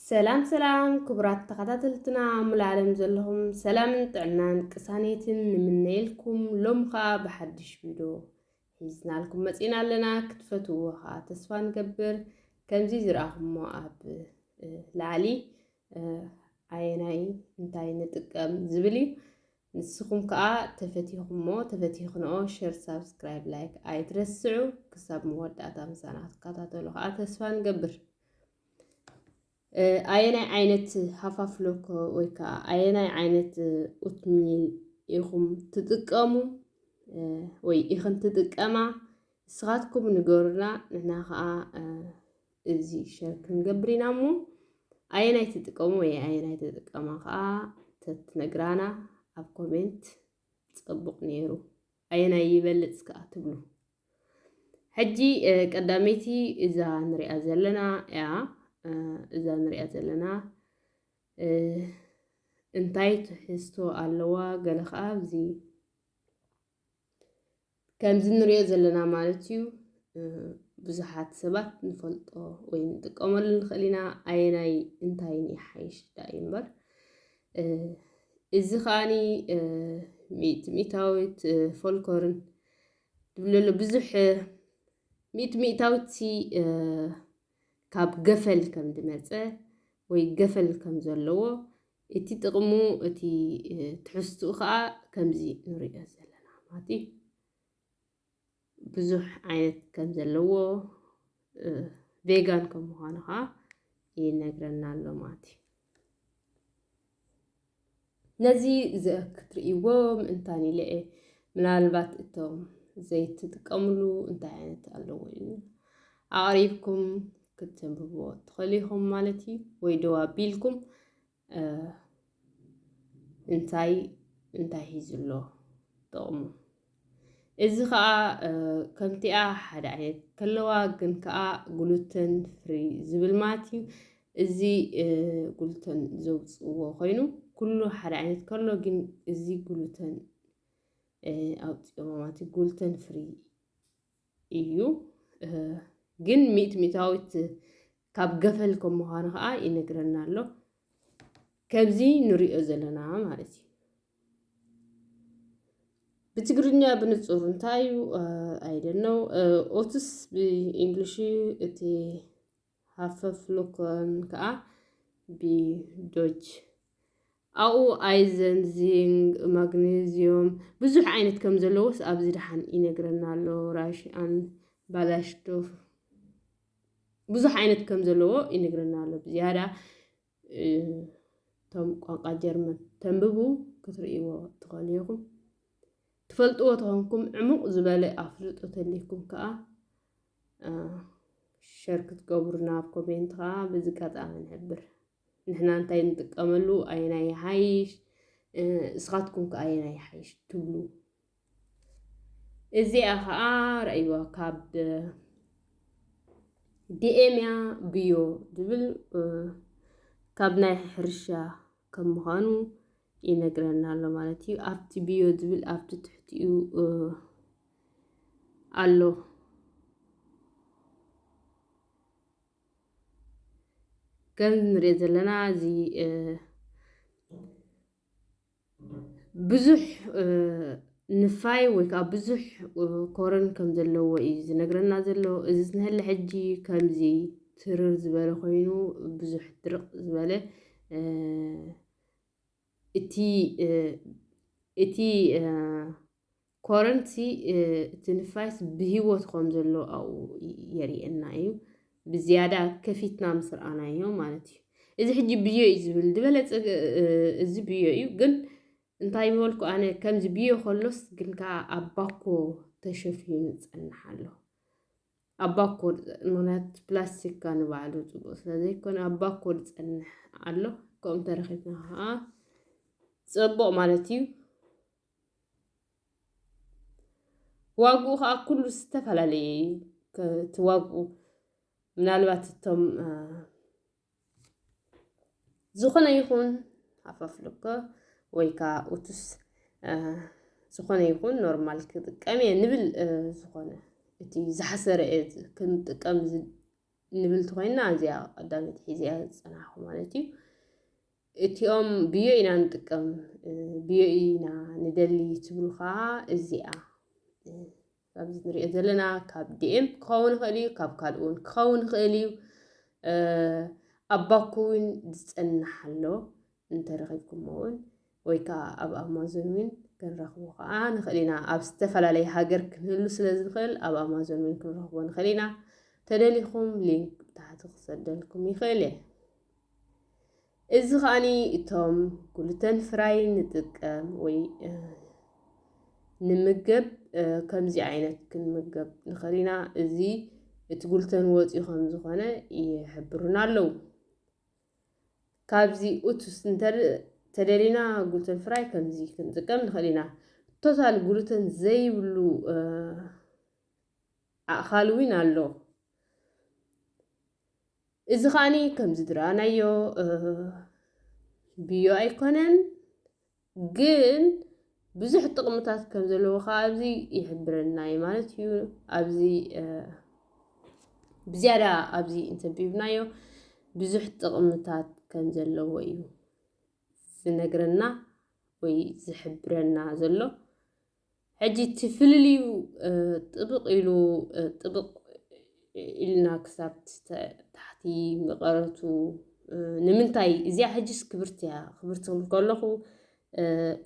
ሰላም ሰላም ክቡራት ተኸታተልትና ሙሉእ ዓለም ዘለኹም ሰላምን ጥዕናን ቅሳኔትን ንምነየልኩም ሎም ከዓ ብሓድሽ ቪድዮ ሒዝናልኩም መጺና ኣለና ክትፈትውዎ ከኣ ተስፋ ንገብር ከምዚ ዝረኣኹሞ ኣብ ላዕሊ ኣየናይ እንታይ ንጥቀም ዝብል እዩ ንስኹም ከኣ ተፈቲኹሞ ተፈቲኽንኦ ሸር ሳብስክራይብ ላይክ ኣይትረስዑ ክሳብ መወዳእታ ምሳና ክትከታተሉ ከኣ ተስፋ ንገብር ኣየናይ ዓይነት ሃፋፍ ሎኮ ወይ ከዓ ኣየናይ ዓይነት ኡትሚል ኢኹም ትጥቀሙ ወይ ኢኽን ትጥቀማ ንስኻትኩም ንገሩና፣ ንሕና ከዓ እዚ ሸር ክንገብር ኢና እሞ ኣየናይ ትጥቀሙ ወይ ኣየናይ ትጥቀማ ከዓ ተትነግራና ኣብ ኮሜንት ጽቡቕ ነይሩ። ኣየናይ ይበልጽ ከዓ ትብሉ? ሕጂ ቀዳመይቲ እዛ ንሪኣ ዘለና እያ እዛ ንሪኣ ዘለና እንታይ ትሕዝቶ ኣለዋ ገለ ከዓ እዚ ከምዚ ንሪኦ ዘለና ማለት እዩ ብዙሓት ሰባት ንፈልጦ ወይ ንጥቀመሉ ንኽእል ኢና ኣየናይ እንታይን ይሓይሽ ዳ እዩ እምበር እዚ ከዓኒ ሚእቲ ሚእታዊት ፎልኮርን ትብሉ ኣሎ ብዙሕ ሚእቲ ሚእታዊቲ ካብ ገፈል ከም ዝመፀ ወይ ገፈል ከም ዘለዎ እቲ ጥቕሙ እቲ ትሕዝትኡ ከዓ ከምዚ ንሪኦ ዘለና ማለት እዩ ብዙሕ ዓይነት ከም ዘለዎ ቬጋን ከም ምዃኑ ከዓ ይነግረና ኣሎ ማለት እዩ ነዚ ክትርእይዎ ምእንታን ኢለ እየ። ምናልባት እቶም ዘይትጥቀምሉ እንታይ ዓይነት ኣለዎ ኢልና ኣቕሪብኩም ክትንብብዎ ትኽእሉ ኢኹም ማለት እዩ። ወይ ደው ኣቢልኩም እንታይ እንታይ ሂዙ ኣሎ ጥቕሙ እዚ ከኣ ከምቲኣ ሓደ ዓይነት ከለዋ ግን ከኣ ግሉተን ፍሪ ዝብል ማለት እዩ እዚ ግሉተን ዘውፅዎ ኮይኑ ኩሉ ሓደ ዓይነት ከሎ ግን እዚ ግሉተን ኣውፅኦ ማለት ግሉተን ፍሪ እዩ ግን ሚእት ሚእታዊት ካብ ገፈል ከም ምዃኑ ከዓ ይነግረና ኣሎ ከብዚ ንሪኦ ዘለና ማለት እዩ ብትግርኛ ብንፁር እንታይ እዩ ኣይደነው ኦትስ ብእንግሊሽ እቲ ሃፈፍሉክን ከኣ ቢዶች ኣብኡ ኣይዘን ዚንግ ማግነዝዩም ብዙሕ ዓይነት ከም ዘለዎስ ኣብዚ ደሓን ይነግረና ኣሎ ራሽኣን ባላሽቶፍ ብዙሕ ዓይነት ከም ዘለዎ ይነግረና ኣሎ ብዝያዳ እቶም ቋንቋ ጀርመን ተንብቡ ክትርእይዎ ትኸእሉ ኢኹም። ትፈልጥዎ ተኾንኩም ዕሙቕ ዝበለ ኣፍልጦ ተልይኩም ከዓ ሸር ክትገብሩና ኣብ ኮሜንት ከዓ ብዚ ቀጣሚ ንሕብር። ንሕና እንታይ ንጥቀመሉ ኣየናይ ይሓይሽ እስኻትኩም ከ ኣየናይ ይሓይሽ ትብሉ? እዚኣ ኸኣ ርእይዋ ካብ ዲኤምያ ብዮ ዝብል ካብ ናይ ሕርሻ ከም ምዃኑ ይነግረና ኣሎ ማለት እዩ። ኣብቲ ብዮ ዝብል ኣብቲ ትሕቲኡ ኣሎ ከም ንሪኦ ዘለና እዚ ብዙሕ ንፋይ ወይ ከዓ ብዙሕ ኮረን ከም ዘለዎ እዩ ዝነግረና ዘሎ እዚ ዝነሀለ ሕጂ ከምዚ ትርር ዝበለ ኮይኑ ብዙሕ ድርቅ ዝበለ እቲ እቲ ኮረንቲ እቲ ንፋስ ብህይወት ከም ዘሎ ኣብኡ የርእየና እዩ ብዝያዳ ከፊትና ምስ ረኣናዮ ማለት እዩ እዚ ሕጂ ብዮ እዩ ዝብል ዝበለፀ እዚ ብዮ እዩ ግን እንታይ ምበልኩ ኣነ ከምዚ ብዮ ከሎስ ግን ከዓ ኣብ ባኮ ተሸፊኑ ዝፀንሕ ኣሎ ኣብ ባኮ ምክንያት ፕላስቲካ ንባዕሉ ፅቡቅ ስለዘይኮነ ኣብ ባኮ ዝፀንሕ ኣሎ ከምኡ ተረኪብና ከዓ ፅቡቅ ማለት እዩ ዋግኡ ከዓ ኩሉ ዝተፈላለየ እዩ እቲ ዋግኡ ምናልባት እቶም ዝኾነ ይኹን ኣፋፍልኮ ወይ ከዓ ኡቱስ ዝኾነ ይኹን ኖርማል ክጥቀም እየ ንብል ዝኾነ እቲ ዝሓሰረ እየ ክንጥቀም ንብል እንተኮይንና እዚኣ ቀዳመይቲ ሒዘ እያ ዝፀናሕኩ ማለት እዩ እቲኦም ብዮ ኢና ንጥቀም ብዮ ኢና ንደሊ ትብሉ ከዓ እዚኣ ኣብዚ ንሪኦ ዘለና ካብ ዲኤም ክኸውን ይኽእል እዩ ካብ ካልእ እውን ክኸውን ይኽእል እዩ ኣብ ባኮ እውን ዝፀናሕ ኣሎ እንተረኺብኩሞ እውን ወይ ከዓ ኣብ ኣማዞን እውን ክንረኽቦ ከዓ ንኽእል ኢና ኣብ ዝተፈላለየ ሃገር ክንህሉ ስለ ዝንኽእል ኣብ ኣማዞን እውን ክንረኽቦ ንኽእል ኢና ተደሊኹም ሊንክ ብታሕቲ ክሰደልኩም ይኽእል እየ እዚ ከኣኒ እቶም ግሉተን ፍራይ ንጥቀም ወይ ንምገብ ከምዚ ዓይነት ክንምገብ ንኽእል ኢና እዚ እቲ ጉልተን ወፂኡ ከም ዝኾነ ይሕብሩና ኣለዉ ካብዚ ኡቱስ እንተደሊና ጉልተን ፍራይ ከምዚ ክንጥቀም ንኽእል ኢና ቶታል ጉልተን ዘይብሉ ኣእኻል እውን ኣሎ እዚ ከዓኒ ከምዚ ዝረኣናዮ ብዮ ኣይኮነን ግን ብዙሕ ጥቕምታት ከም ዘለዎ ከዓ ኣብዚ ይሕብረና እዩ ማለት እዩ ኣብዚ ብዝያዳ ኣብዚ እንተቢብናዮ ብዙሕ ጥቕምታት ከም ዘለዎ እዩ ዝነግረና ወይ ዝሕብረና ዘሎ ሕጂ እቲ ፍልልዩ ጥብቕ ኢሉ ጥብቕ ኢልና ክሳብ ታሕቲ መቐረቱ ንምንታይ እዚኣ ሕጂስ ክብርቲ እያ ክብርቲ ክብል ከለኹ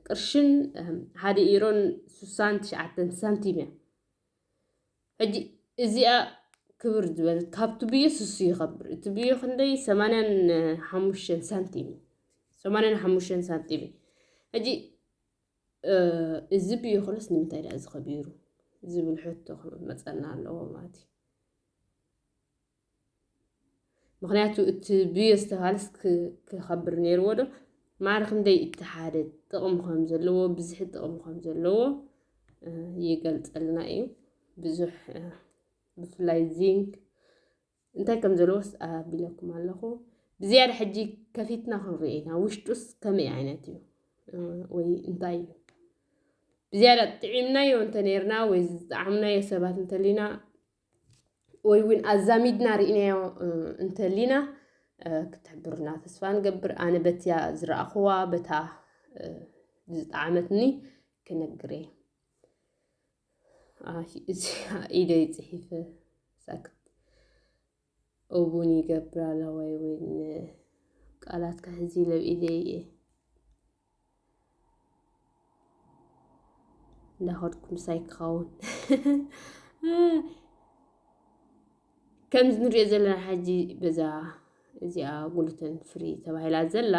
ቅርሽን ሓደ ኢሮን ስሳን ትሽዓተን ሳንቲም እያ ሕጂ እዚኣ ክብር ዝበለት ካብቲ ብዮ ስሱ ይኸብር እቲ ብዮ ክንደይ ሰማንያን ሓሙሽተን ሳንቲም እዩ ሰማንያን ሓሙሽተን ሳንቲም እዩ ሕጂ እዚ ብይኹንስ ንምንታይ ድኣ እዚ ከቢሩ ዝብል ሕቶ ክመፀና ኣለዎ ማለት እዩ ምክንያቱ እቲ ብዮ ዝተባሃለስ ክኸብር ነይርዎ ዶ ማዕረ ክንደይ እቲ ሓደ ጥቕሚ ከም ዘለዎ ብዝሒ ጥቕሚ ከም ዘለዎ ይገልፀልና እዩ ብዙሕ ብፍላይ ዚንክ እንታይ ከም ዘለዎስ ኣቢለኩም ኣለኹ ብዝያዳ ሕጂ ከፊትና ክንሪኦ ኢና ውሽጡስ ከመይ ዓይነት እዩ ወይ እንታይ እዩ ብዝያዳ ጥዒምናዮ እንተነርና ወይ ዝጣዕምናዮ ሰባት እንተሊና ወይ እውን ኣዛሚድና ርኢናዮ እንተሊና ክትሕብርና ተስፋ ንገብር ኣነ በትያ ዝረኣኹዋ በታ ዝጣዓመትኒ ክነግር እየ ኢደይ ጽሒፈ ሳክት እውን ይገብር ኣላ ወይ ወይን ቃላት ከሕዚ ለው ኢደይ እየ እንዳኸድኩ ምሳይ ክኸውን ከምዚ ንሪኦ ዘለና ሓጂ በዛ እዚኣ ጉሉተን ፍሪ ተባሂላ ዘላ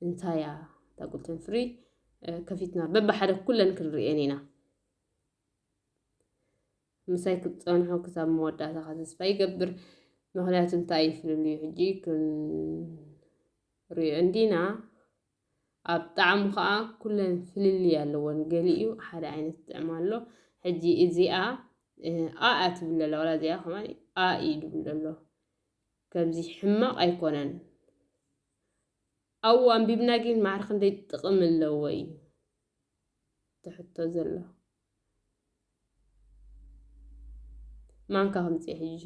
እንታይ እያ እታ ጉልተን ፍሪ ከፊትና በብሓደ ኩለን ክንርእየን ኢና ምሳይ ክትፀንሑ ክሳብ መወዳእታኻ ተስፋ ይገብር ምክንያቱ እንታይ ይፍልልዩ ሕጂ ክንሪኦ እንዲና ኣብ ጣዕሙ ከዓ ኩለን ፍልልይ ኣለዎን ገሊኡ ሓደ ዓይነት ጥዕሚ ኣሎ ሕጂ እዚኣ ኣኣ ትብል ኣላ ዋላ እዚኣ ከማ ኣ ኢሉ ኣሎ ከምዚ ሕማቕ ኣይኮነን ኣብኡ ኣንቢብና ጊን ማዕረ ክንደይ ጥቅሚ ኣለዎ እዩ እቲ ሕቶ ዘሎ ማንካ ከምፅእ ሕጂ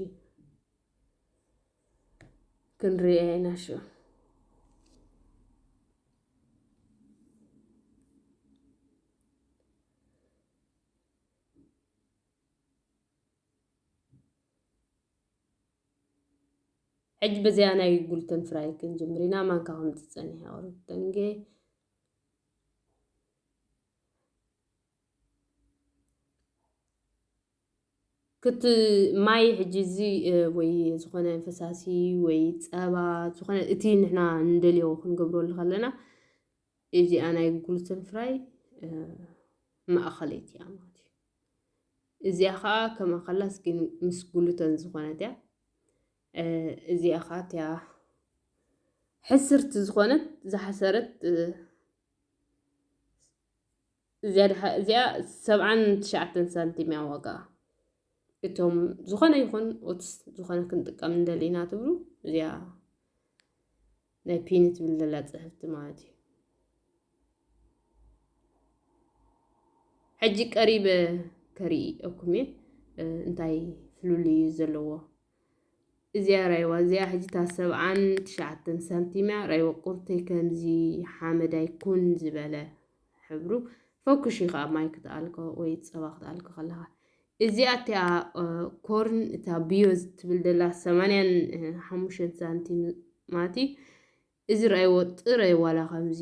ክንሪኦ ኢና ሽዑ ሕጂ በዚኣ ናይ ጉልተን ፍራይ ክንጅምር ኢና ማንካ ከምቲ ጸኒሐ ቅሩብ ደንጌ ክቲ ማይ ሕጂ እዚ ወይ ዝኾነ ፈሳሲ ወይ ጸባ ዝኾነ እቲ ንሕና ንደልዮ ክንገብረሉ ከለና እዚኣ ናይ ግሉተን ፍራይ ማእኸለይቲ እያ ማለት እዩ። እዚኣ ከዓ ከም ኣኸላስ ግን ምስ ግሉተን ዝኾነት እያ። እዚኣ ከዓ እቲያ ሕስርቲ ዝኾነት ዝሓሰረት እዚኣ ሰብዓን ትሽዓተን ሳንቲም እያ ዋጋ። እቶም ዝኾነ ይኹን ኦትስ ዝኾነ ክንጥቀም እንደሊና ትብሉ እዚኣ ናይ ፒኒ ትብል ዘላ ፅሕፍቲ ማለት እዩ ሕጂ ቀሪበ ከርኢ እኩም እየ እንታይ ፍሉል እዩ ዘለዎ እዚያ ራይዋ እዚያ ሕጂ እታ ሰብዓን ትሽዓተን ሳንቲም እያ ራይዋ ቁርተይ ከምዚ ሓመዳይ ኩን ዝበለ ሕብሩ ፈኩሽ እዩ ከዓ ማይ ክትኣልኮ ወይ ፀባ ክትኣልኮ ከለካ እዚኣ እቲኣ ኮርን እታ ብዮ ዝትብል ደላ ሰማንያን ሓሙሽተን ሳንቲም ማቲ እዚ ርኣይዎ ጥረይ ዋላ ከምዚ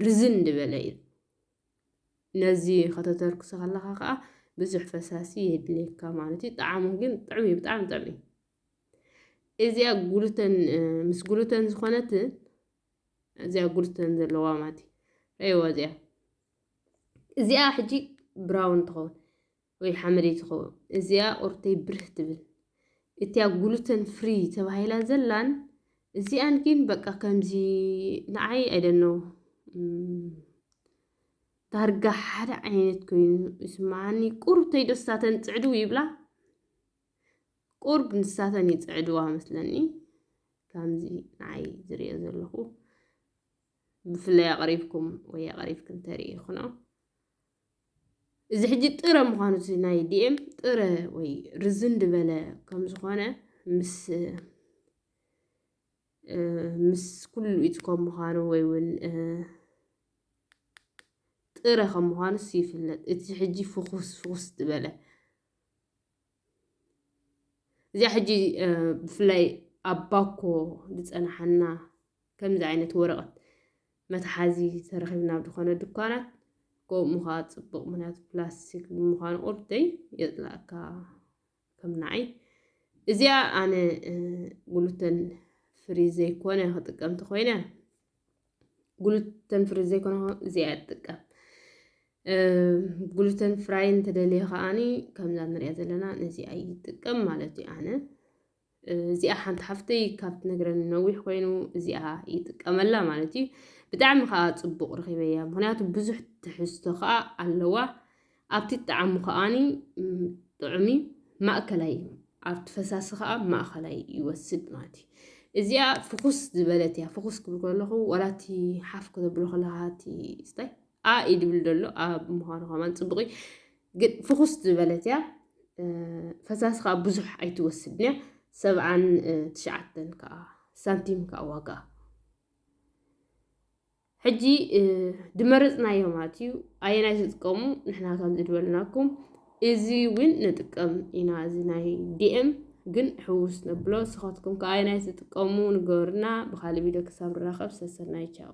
ርዝን ድበለ እዩ ነዚ ከተተርክሶ ከለካ ከዓ ብዙሕ ፈሳሲ የድልየካ ማለት እዩ ጣዕሙ ግን ጥዕሚ ብጣዕሚ ጥዕሚ እዚኣ ጉሉተን ምስ ጉሉተን ዝኾነት እዚኣ ጉሉተን ዘለዋ ማለት እዩ ረይዋ እዚኣ እዚኣ ሕጂ ብራውን ትኸውን ወይ ሓመደይ ትኸውን እዚኣ ቁርተይ ብርህ ትብል እቲያ ጉሉተን ፍሪ ተባሂላ ዘላን እዚኣን ግን በቃ ከምዚ ንዓይ ኣይደነው ዳርጋ ሓደ ዓይነት ኮይኑ ይስምዓኒ ቁርተይ ደስታተን ፅዕዱ ይብላ ቁርብ ንሳተን ይፅዕድዋ መስለኒ ከምዚ ንዓይ ዝሪኦ ዘለኹ ብፍላይ ኣቕሪብኩም ወይ ኣቕሪብክን ተርእይኹኖ እዚ ሕጂ ጥረ ምዃኑ እዚ ናይ ዲኤም ጥረ ወይ ርዝን ድበለ ከም ዝኾነ ምስ ምስ ኩሉ ኢት ከም ምዃኑ ወይ እውን ጥረ ከም ምዃኑስ ይፍለጥ እቲ ሕጂ ፍኹስ ፍኹስ ዝበለ እዚኣ ሕጂ ብፍላይ ኣብ ባኮ ዝፀናሓና ከምዚ ዓይነት ወረቐት መትሓዚ ተረኺብና ዝኾነ ድኳናት ከምኡ ምዃ ፅቡቕ ምክንያቱ ፕላስቲክ ብምዃኑ ቁርደይ የፅላእካ ከም ንዓይ እዚኣ ኣነ ጉሉተን ፍሪ ዘይኮነ ክጥቀምቲ ኮይነ ግሉተን ፍሪ ዘይኮነ እዚኣ ትጥቀም ግሉተን ፍራይ እንተደልየ ከዓኒ ከምዛ ንሪኣ ዘለና ነዚኣ ይጥቀም ማለት እዩ ኣነ እዚኣ ሓንቲ ሓፍተይ ካብ ትነግረኒ ነዊሕ ኮይኑ እዚኣ ይጥቀመላ ማለት እዩ ብጣዕሚ ከዓ ፅቡቅ ረኪበያ ምክንያቱ ብዙሕ ትሕዝቶ ከዓ ኣለዋ ኣብቲ ጣዕሙ ከኣኒ ጥዑም ማእከላይ እዩ። ኣብቲ ፈሳሲ ከኣ ማእከላይ ይወስድ ማለት እዩ። እዚኣ ፍኹስ ዝበለት እያ። ፍኹስ ክብል ከለኹ ዋላ እቲ ሓፍ ከተብሎ ከለካ እቲ ስታይ ኣ እዩ ድብል ዘሎ ኣ ምዃኑ ከማን ፅቡቅ እዩ። ግን ፍኹስ ዝበለት እያ። ፈሳሲ ከዓ ብዙሕ ኣይትወስድን እያ። ሰብዓን ትሽዓተን ከዓ ሳንቲም ከዓ ዋጋ ሕጂ ድመረጽናዮ ማለት እዩ ኣየናይ ትጥቀሙ ንሕና ከም ዝድበልናኩም እዚ እውን ንጥቀም ኢና እዚ ናይ ዲኤም ግን ሕውስ ነብሎ ንስኻትኩም ከ ኣየናይ ትጥቀሙ ንገሩና ብካልእ ቪድዮ ክሳብ ንራኸብ ሰሰናይ ቻው